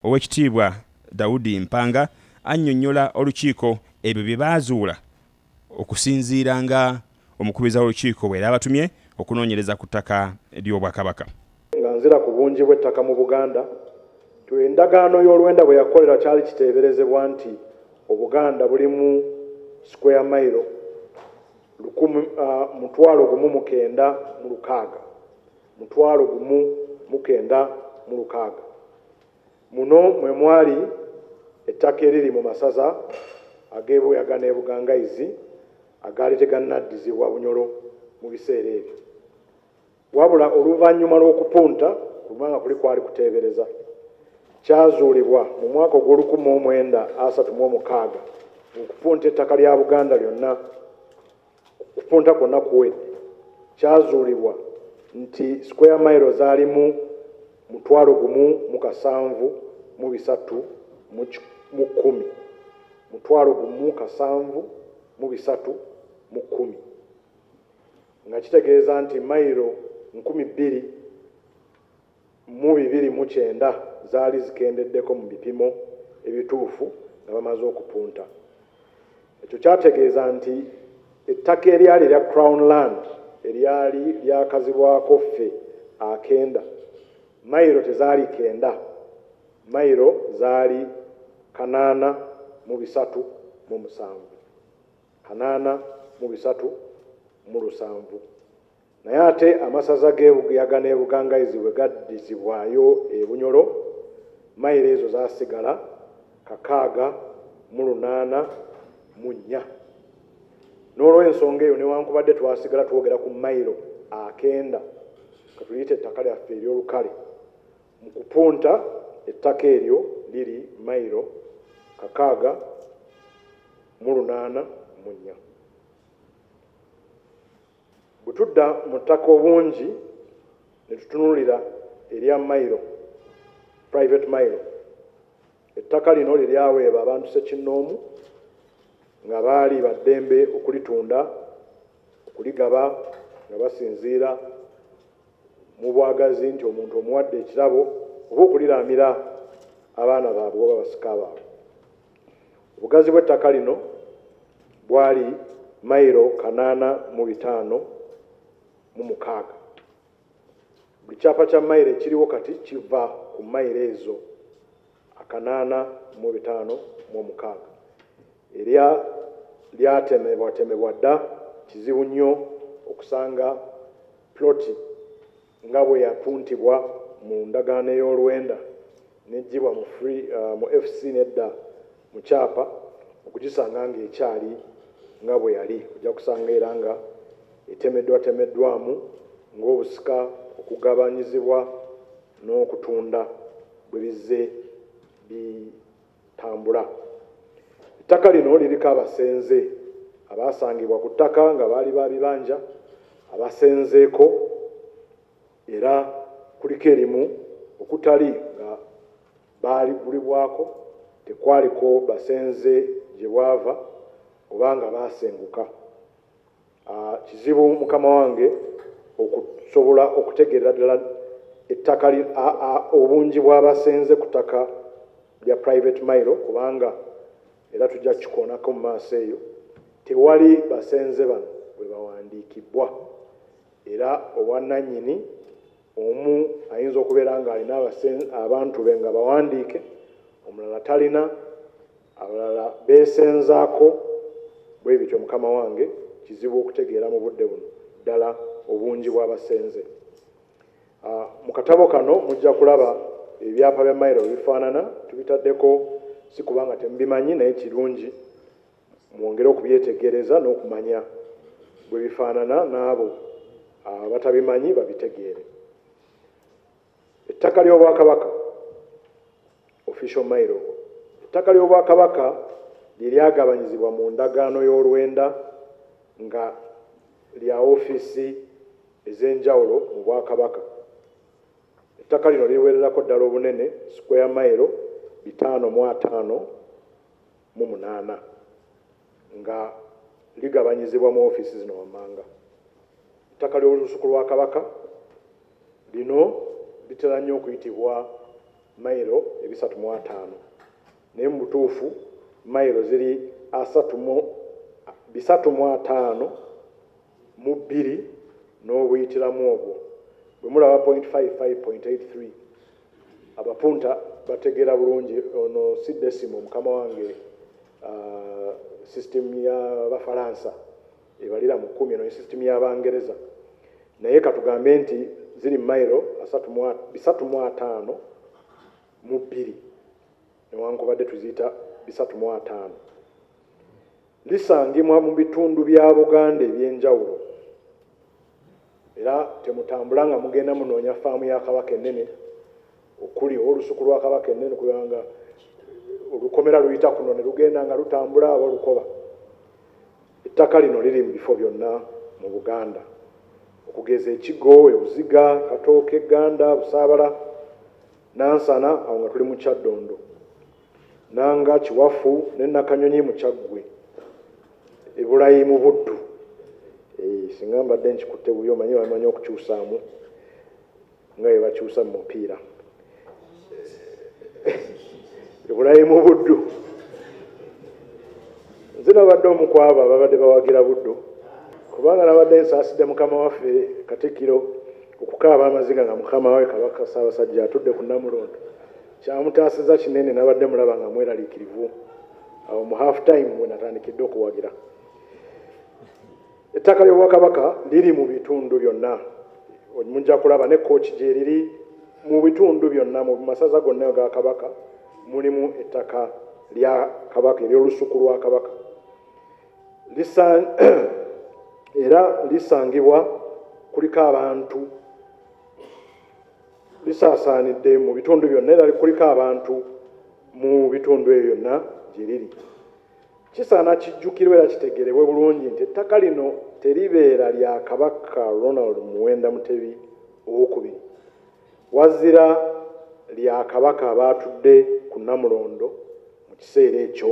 Owekitiibwa Daudi Mpanga annyonnyola olukiiko ebyo bye baazuula okusinziira nga omukubiriza w'olukiiko bwe yaabatumye okunoonyereza ku ttaka ly'Obwakabaka. Nga nzira ku bungi bw'ettaka mu Buganda, to endagaano y'olwenda bwe yakolera kyali kiteeberezebwa nti Obuganda bulimu square mailo lukumi, mutwalo gumu mu kenda mu lukaaga, mutwalo gumu mu kenda mu lukaaga. Muno mwe mwali ettaka eriri mu masaza ag'e Buyaga n'e Bugangaizi agaali tegannaddizibwa Bunyoro mu biseera ebyo. Wabula oluvannyuma lw'okupunta kubanga kuli kwali kuteebereza, kyazuulibwa mu mwaka ogw'olukumi mu mwenda asatu mu omukaaga ng'okupunta ettaka lya Buganda lyonna Okupunta kwonna kuwedde, kyazuulibwa nti square mile zaalimu mutwalo gumu mu kasanvu mu bisatu mu mu kkumi mutwalo gumu kasanvu mu bisatu mu kkumi nga kitegeeza nti mayiro nkumi bbiri mu bibiri mu kyenda zaali zikendeddeko mu bipimo ebituufu nga bamaze okupunta. Ekyo kyategeeza nti ettaka eryali erya Crown Land eryali lyakazibwako ffe akenda, mayiro tezaali kenda, mayiro zaali kanaana mu bisatu mu musanvu, kanaana mu bisatu mu lusanvu. Naye ate amasaza g'e Buyaga n'e Bugangaizi bwe gaddizibwayo e Bunyoro, mayiro ezo zaasigala kakaaga mu lunaana mu nnya. N'olw'ensonga eyo, newankubadde twasigala twogera ku mayiro akenda, ka tuliyite ettaka lyaffe ery'olukale, mu kupunta ettaka eryo liri mayiro kakaaga mu lunaana mu nnya. Bwe tudda mu ttaka obungi ne tutunuulira erya Mailo, Private Mailo, ettaka lino lye lyaweeba abantu ssekinnoomu nga baali ba ddembe okulitunda, okuligaba nga basinziira mu bwagazi nti omuntu omuwadde ekirabo oba okuliraamira abaana baabwe oba basika baabwe. Obugazi bw'ettaka lino bwali mayiro kanaana mu bitaano mu mukaaga. Buli kyapa kya mayiro ekiriwo kati kiva ku mayiro ezo akanaana mu bitaano mu omukaaga. Erya lyatemebwatemebwa dda, kizibu nnyo okusanga ploti nga bwe yapuntibwa mu ndagaano ey'olwenda n'eggyibwa mu free, uh, mu FC n'edda mu kyapa okugisanga ng'ekyali nga bwe yali ojja kusanga era nga etemeddwatemeddwamu ng'obusika okugabanyizibwa n'okutunda bwe bizze bi Tambula. Ettaka lino liriko abasenze abaasangibwa ku ttaka nga baali ba bibanja abasenzeeko era kuliko erimu okutali nga baaligulibwako tekwaliko basenze gye bwava oba nga baasenguka. Kizibu mukama wange okusobola okutegeerera ddala ettaka obungi bw'abasenze ku ttaka lya private mile kubanga era tujja kukikoonako mu maaso eyo tewali basenze bano bwe bawandiikibwa era obwannannyini Omu ayinza okubeera ng'alina abantu be nga bawandiike, omulala talina, abalala beesenzaako bwe bityo. Mukama wange, kizibu okutegeera mu budde buno ddala obungi bw'abasenze. Ah, mu katabo kano mujja kulaba ebyapa bya mayiro bifaanana. Tubitaddeko si kubanga temubimanyi, naye kirungi Mwongere okubyetegereza n'okumanya bwe bifaanana n'abo abatabimanyi babitegeere. Ettaka ly'Obwakabaka, Official Mailogo, Ettaka ly'Obwakabaka lye lyagabanyizibwa mu ndagaano y'olwenda nga lya ofiisi ez'enjawulo mu Bwakabaka. Ettaka lino liwererako ddala obunene square mailo bitaano mu ataano. mu munaana nga ligabanyizibwa mu ofiisi zino wammanga. Ettaka ly'Olusuku lwa Kabaka lino litera nnyo okuyitibwa mayiro ebisatu mu ataano naye mu butuufu mayiro ziri asatu mu bisatu mu ataano mu bbiri n'obuyitiramu obwo bwe mulaba point 55 point 83 abapunta bategeera bulungi ono si desimo mukama wange uh, system y'abafalansa ebalira mu kkumi eno ne system y'abangereza naye katugambe nti ziri mailo bisatu mu ataano mu bbiri newankubadde tuziyita bisatu mu ataano Lisangimwa mu bitundu bya Buganda eby'enjawulo era temutambula nga mugenda munoonya faamu ya Kabaka ennene okuli oba olusuku lwa Kabaka ennene kubanga olukomera luyita kuno ne lugenda nga lutambula aba lukoba. Ettaka lino liri mu bifo byonna mu Buganda okugeza Ekigo, Ebuziga, Katooke, Gganda, Busaabala, Nansana awo nga tuli mu Kyaddondo. nanga kiwafu ne nakanyonyi mukyaggwe ebulayimu buddu eh, singa mbadde nkikutte buyo omanyi bamanyi okukyusaamu nga bwe bakyusa mu mupiira ebulayimu buddu nze nabadde omu ku abo ababadde bawagira buddu kubanga nabadde nsaasidde mukama waffe katikkiro okukaaba amaziga nga mukama we kabaka saabasajja atudde ku namulondo Kyamutaasizza kinene nabadde mulaba nga mweraliikirivu awo mu half time we natandikidde okuwagira. Ettaka ly'Obwakabaka liri mu bitundu byonna, mujja kulaba ne kooki gyeriri mu bitundu byonna mu masaza gonna ga Kabaka mulimu ettaka lya Kabaka ery'olusuku lwa Kabaka era lisangibwa kuliko abantu lisaasaanidde mu bitundu byonna era likuliko abantu mu bitundu ebyo byonna gye liri kisaana kijjukirwa era kitegerebwe bulungi nti ettaka lino teribeera lya kabaka ronald muwenda mutebi owokubiri wazira lya kabaka abaatudde ku namulondo mu kiseera ekyo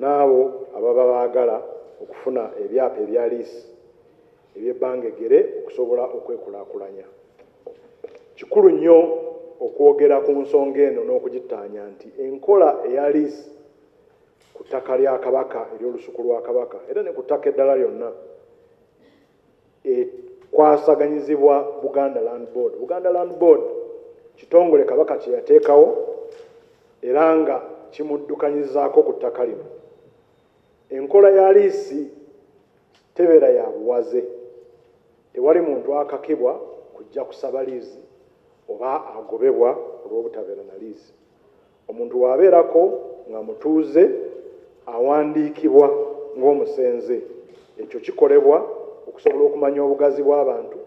n'abo ababa baagala okufuna ebyapa ebya liisi eby'ebbanga eggere okusobola okwekulaakulanya. Kikulu nnyo okwogera ku nsonga eno n'okugittaanya nti enkola eya liisi ku ttaka lya Kabaka ery'Olusuku lwa Kabaka era ne ku ttaka eddala lyonna, ekwasaganyizibwa Buganda Land Board. Buganda Land Board kitongole Kabaka kye yateekawo era nga kimuddukanyizaako ku ttaka lino. Enkola ya liisi tebeera ya buwaze. Tewali muntu akakibwa kujja kusaba liizi oba agobebwa olw'obutabeera na liizi. Omuntu bw'abeerako nga mutuuze awandiikibwa ng'omusenze. Ekyo kikolebwa okusobola okumanya obugazi bw'abantu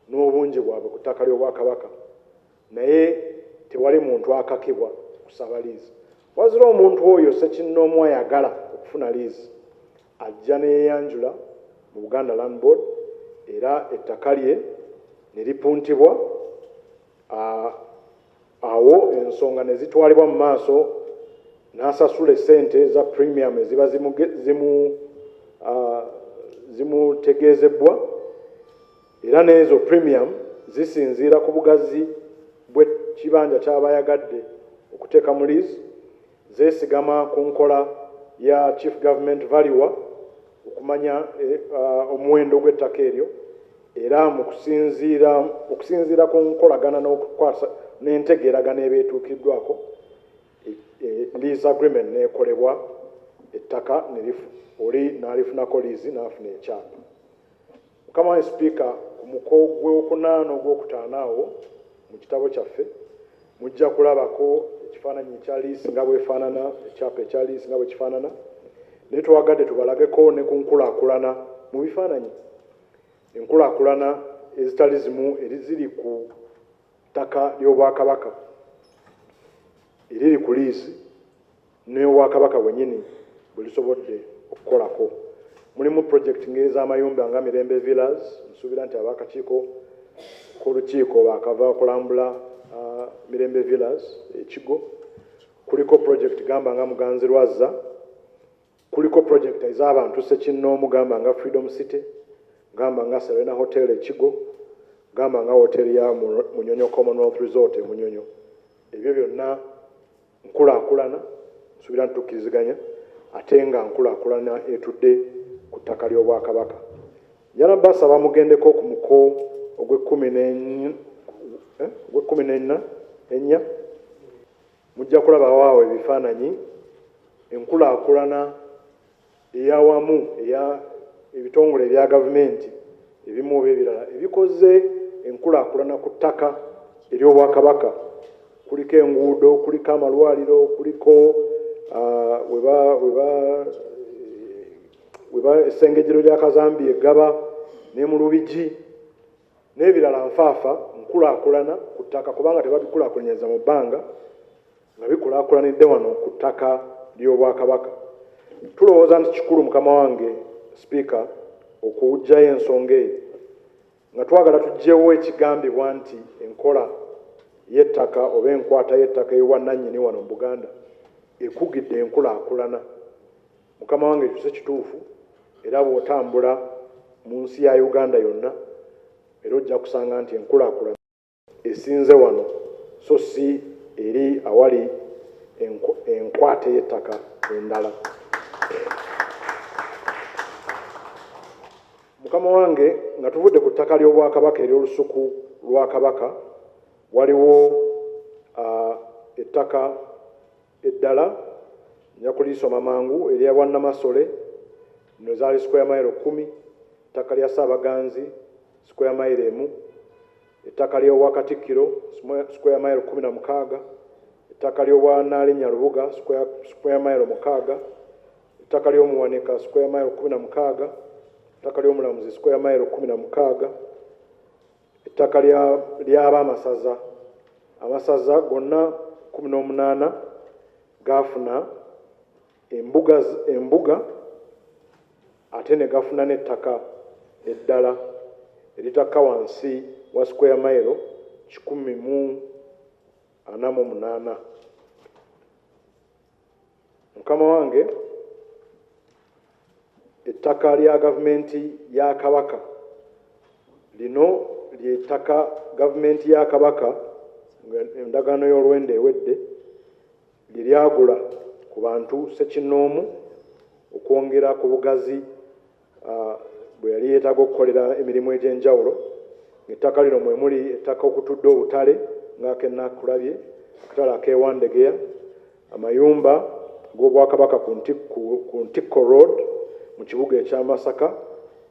n'obungi bwabwe ku ttaka ly'Obwakabaka naye tewali muntu akakibwa kusaba liizi. Wazira omuntu oyo ssekinnoomu ayagala okufuna liizi ajja ne yeeyanjula mu Buganda Land Board era ettaka lye ne lipuntibwa. awo ensonga ne zitwalibwa mu maaso n'asasula essente za premium eziba zimutegeezebbwa era n'ezo premium zisinziira ku bugazi bw'ekibanja ky'aba ayagadde okuteeka mu liizi Zeesigama ku nkola ya Chief Government Valuer okumanya omuwendo gw'ettaka eryo era mu kusinziira okusinziira ku nkolagana n'okukwasa n'entegeeragana eba etuukiddwako lease agreement n'ekolebwa ettaka ne oli n'alifunako liizi n'afuna ekyapa. Mukama wange Sipiika, ku muko gw'okunaana ogw'okutaano awo mu kitabo kyaffe mujja kulabako ekifaananyi ekya liisi nga bwefaanana, ekyapa ekya liisi nga bwe kifaanana, naye twagadde tubalageko ne ku nkulaakulana mu bifaananyi, enkulaakulana ezitali zimu eriziri ku ttaka ly'Obwakabaka eriri ku liisi. n'ewa Kabaka wenyini bwelusobodde okukolako mulimu project ng'ez'amayumba nga Mirembe Villas, nsuubira nti ab'akakiiko k'olukiiko baakava okulambula uh, Mirembe Villas ekigo, kuliko project gamba nga Muganzi Lwazza, kuliko project ez'abantu sekinnoomu gamba nga Freedom City, gamba nga Serena Hotel ekigo, gamba nga hotel ya Munyonyo Commonwealth Resort e Munyonyo, ebyo byonna Nkulaakulana, nsuubira nti tukkiriziganya, ate nga nkulaakulana etudde ku ttaka ly'Obwakabaka. Njala basaba mugendeko ku muko ogw'ekkumi n'enna, ennya, mujja kulabawo awo ebifaananyi enkulaakulana eyawamu eya ebitongole ebya gavumenti ebimu oba ebirala ebikoze enkulaakulana ku ttaka ery'Obwakabaka kuliko enguudo, kuliko amalwaliro, kuliko ah, weba essengejero lya Kazambi eggaba ne mu Lubigi n'ebirala nfaafa nkulaakulana ku ttaka kubanga tebabikulaakulanyiza mu bbanga nga bikulaakulanidde wano ku ttaka ly'Obwakabaka. Tulowooza nti kikulu mukama wange Sipiika okuggyayo ensonga eyo nga twagala tuggyewo ekigambibwa nti enkola y'ettaka oba enkwata y'ettaka ey'obwannannyini wano mu Buganda ekugidde enkulaakulana. Mukama wange ekyo si kituufu era bw'otambula mu nsi ya Uganda yonna era ojja kusanga nti enkulaakulana esinze wano so si eri awali enkwata ey'ettaka endala. Mukama wange nga tuvudde ku ttaka ly'Obwakabaka ery'olusuku lwa Kabaka waliwo ettaka Eddala nja kulisoma mangu erya Bwannamasole, lino zaali square mile kkumi, ettaka lya Ssaabaganzi square mile emu, ettaka ly'obwa Katikkiro square mile kkumi na mukaaga, ettaka ly'obwa Nnaalinnya Lubuga square mile mukaaga, ettaka ly'Omuwanika square mile kkumi na mukaaga, ettaka ly'Omulamuzi square mile kkumi na mukaaga, ettaka lyaba amasaza amasaza gonna kumi n'omunaana gaafuna embuga embuga ate ne gafuna n'ettaka eddala eritakka wansi wa square mailo kikumi mu ana mu munaana Mukama wange ettaka lya gavumenti ya Kabaka lino ly'ettaka gavumenti ya Kabaka endagaano y'olwenda ewedde lye lyagula ku bantu ssekinnoomu okwongera ku bugazi bwe yali yeetaaga okukolera emirimu egy'enjawulo ng'ettaka lino mwe muli ettaka okutudde obutale ng'akenakulabye akatale ak'ewandegeya amayumba ag'obwakabaka ku ntikko road mu kibuga ekya masaka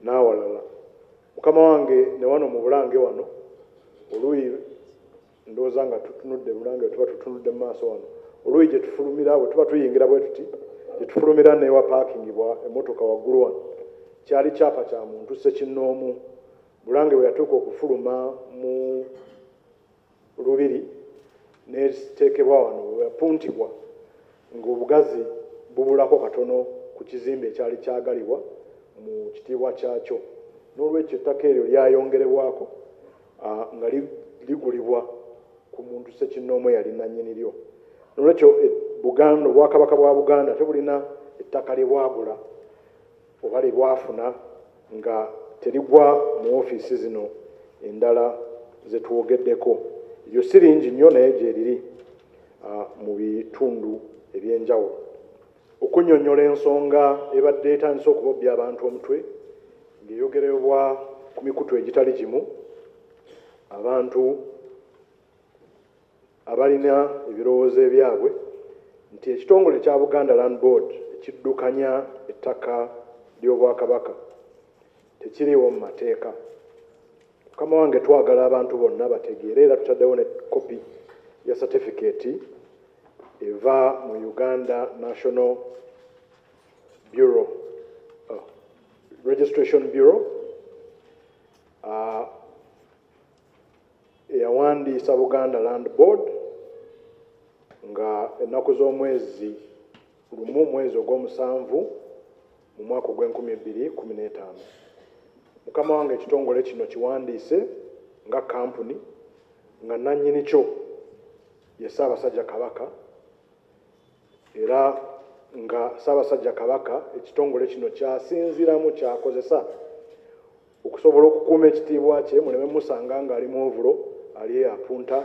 n'awalala mukama wange ne wano mu bulange wano oluuyi Ndowooza nga tutunudde Bulange tuba tutunudde mu maaso wano oluuyi gye tufulumira bwe tuba tuyingira bwe tuti gye tufulumira newa paakingibwa emmotoka waggulu wano kyali kyapa kya muntu ssekinnoomu Bulange bwe yatuuka okufuluma mu lubiri neteekebwa wano weyapuntibwa ng'obugazi bubulako katono ku kizimbe ekyali kyagalibwa mu kitiibwa kyakyo n'olwekyo ettaka eryo lyayongerebwako nga ligulibwa ku muntu sekinnoomu eyali nannyini lyo nolwekyo e, buganda obwakabaka bwa buganda ate bulina ettaka lye bwagula oba lye bwafuna nga terigwa mu ofiisi zino endala zetwogeddeko eryo si lingi nnyo naye gyeriri mu bitundu ebyenjawulo Okunyonyola ensonga ebadde etandise okubobbya abantu omutwe ng'eyogerebwa ku mikutu egitali gimu, abantu abalina ebirowoozo ebyabwe nti ekitongole ekya Buganda Land Board ekiddukanya ettaka ly'Obwakabaka tekiriiwo mu mateeka. Mukama wange twagala abantu bonna bategeere era tutaddewo ne kopi ya satifikeeti eva mu Uganda National Bureau oh, Registration Bureau uh, eyawandiisa Buganda Land Board nga ennaku z'omwezi lumu mwezi ogw'omusanvu mu mwaka ogw'enkumi ebbiri kumi n'etaano mukama wange ekitongole kino kiwandiise nga kampuni nga nannyini kyo ye ssaabasajja kabaka era nga ssaabasajja kabaka ekitongole kino kyasinziramu kyakozesa Okusobola okukuuma ekitiibwa kye muleme musanga ng'ali mu ovulo, ali eyo apunta,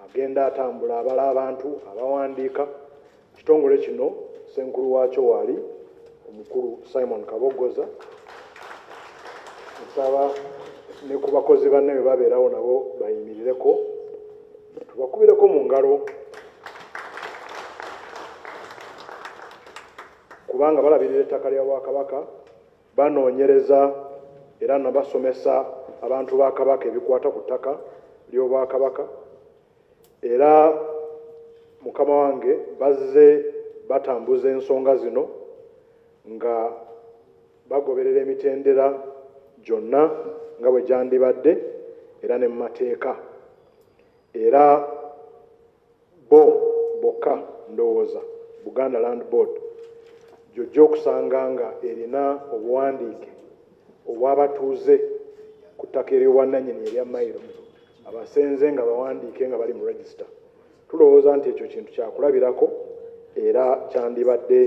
agenda atambula abala abantu, abawandiika. Ekitongole kino ssenkulu waakyo waali omukulu Simon Kaboggoza. Nsaba ne ku bakozi banne bwe babeerawo nabo bayimirireko tubakubireko mu ngalo kubanga balabirira ettaka lya Bwakabaka Banoonyereza era nabasomesa abantu ba Kabaka ebikwata ku ttaka ly'Obwakabaka era mukama wange bazze batambuza ensonga zino nga bagoberera emitendera gyonna nga bwe gyandibadde era ne mu mateeka era Bbo bokka ndowooza Buganda Land Board gy'ojja okusanga nga erina obuwandiike obw'abatuuze ku ttaka ery'obwannanyini erya Mailo abasenze nga bawandiike nga bali mu Register. Tulowooza nti ekyo kintu kyakulabirako era kyandibadde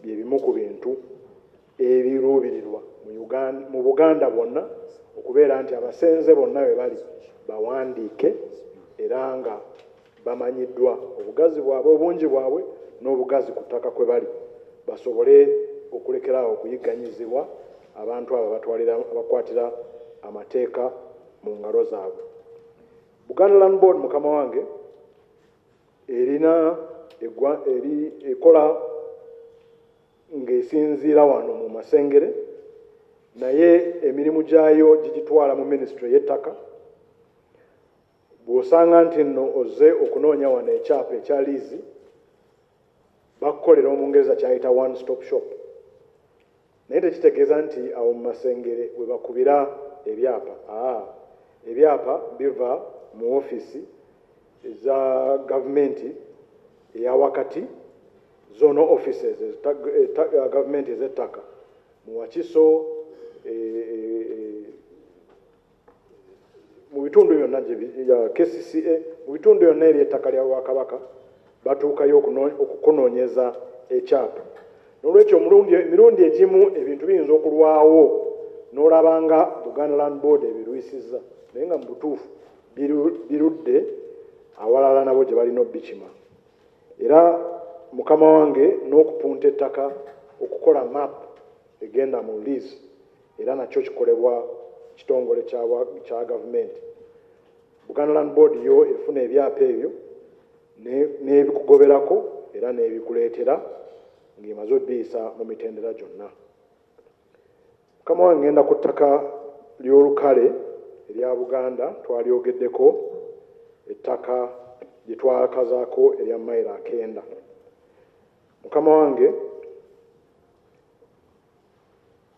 bye bimu ku bintu Ebiruubirirwa mu Buganda bwonna okubeera nti abasenze bonna we bali bawandiike era nga bamanyiddwa obugazi bwabwe, obungi bwabwe n'obugazi ku ttaka kwe bali basobole okulekera awo okuyigganyizibwa abantu abo abakwatira amateeka mu ngalo zaabwe. Buganda Land Board mukama wange erina ekola ng'esinziira wano mu Masengere naye emirimu gyayo gigitwala mu minisitule y'ettaka. Bw'osanga nti nno ozze okunoonya wano ekyapa ekya liizi, bakukolera Omungereza ky'ayita one stop shop, naye tekitegeeza nti awo mu Masengere we bakubira ebyapa. Aa, ebyapa biva mu ofiisi. eza gavumenti eyawakati zona offices eh, gavumenti ezettaka mu wakiso eh, eh, mu bitundu byonna kcca mu bitundu byonna eri ettaka lya bwakabaka batuukayo okukunoonyeza ekyapa nolwekyo emirundi egimu ebintu biyinza okulwawo nolaba nga buganda land board ebirwisizza naye nga mu butuufu birudde awalala nabo gye balina obikima era mukama wange n'okupunta ettaka okukola map egenda mu lease era nakyo kikolebwa kitongole kya gavumenti buganda land board yo efuna ebyapa ebyo n'ebikugoberako era n'ebikuleetera ng'emaze obiyisa mu mitendera gyonna Mukama wange ngenda ku ttaka ly'olukale erya Buganda twalyogeddeko ettaka lye twakazaako erya mayiro akenda mukama wange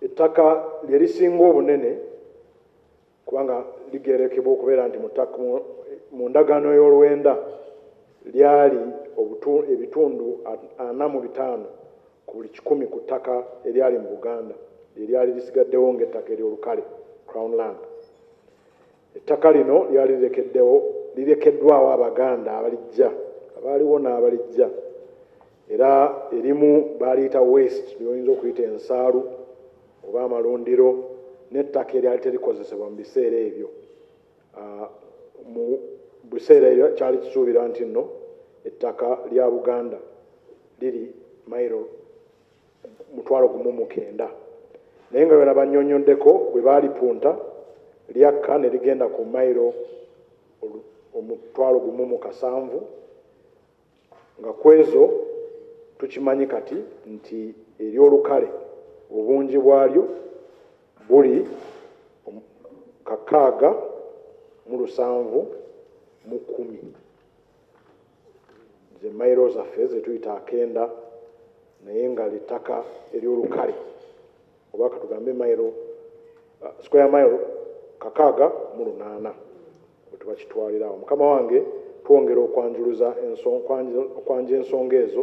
ettaka lye lisinga obunene kubanga ligeerekebwa okubeera nti mu tak mu, mu ndagaano y'olwenda lyali obutu, ebitundu ana mu bitaano ku buli kikumi ku ttaka eryali mu Buganda lye lyali lisigaddewo ng'ettaka ery'olukale crown land. Ettaka lino lyali lirekeddewo lirekeddwawo Abaganda abalijja abaaliwo n'abalijja era erimu baaliyita west lyoyinza okuyita ensaalu oba amalundiro n'ettaka eryali terikozesebwa mu biseera ebyo ah, mu biseera ebyo kyali kisuubira nti nno ettaka lya buganda liri mairo mutwalo gumu mukenda naye nga byona banyonyoddeko bwe baalipunta lyakka ne ligenda ku mairo omutwalo gumu mu kasanvu nga kwezo tukimanyi kati nti eryolukale obungi bwalyo buli kakaaga mu lusanvu mu kumi zemairo zaffe zetuyita akenda naye nga littaka eryolukale oba katugambe mairo uh, square mile kakaaga mu lunaana Bwe tubakitwalira awo, mukama wange, twongera okwanjuluza enso, okwanja ensonga ezo.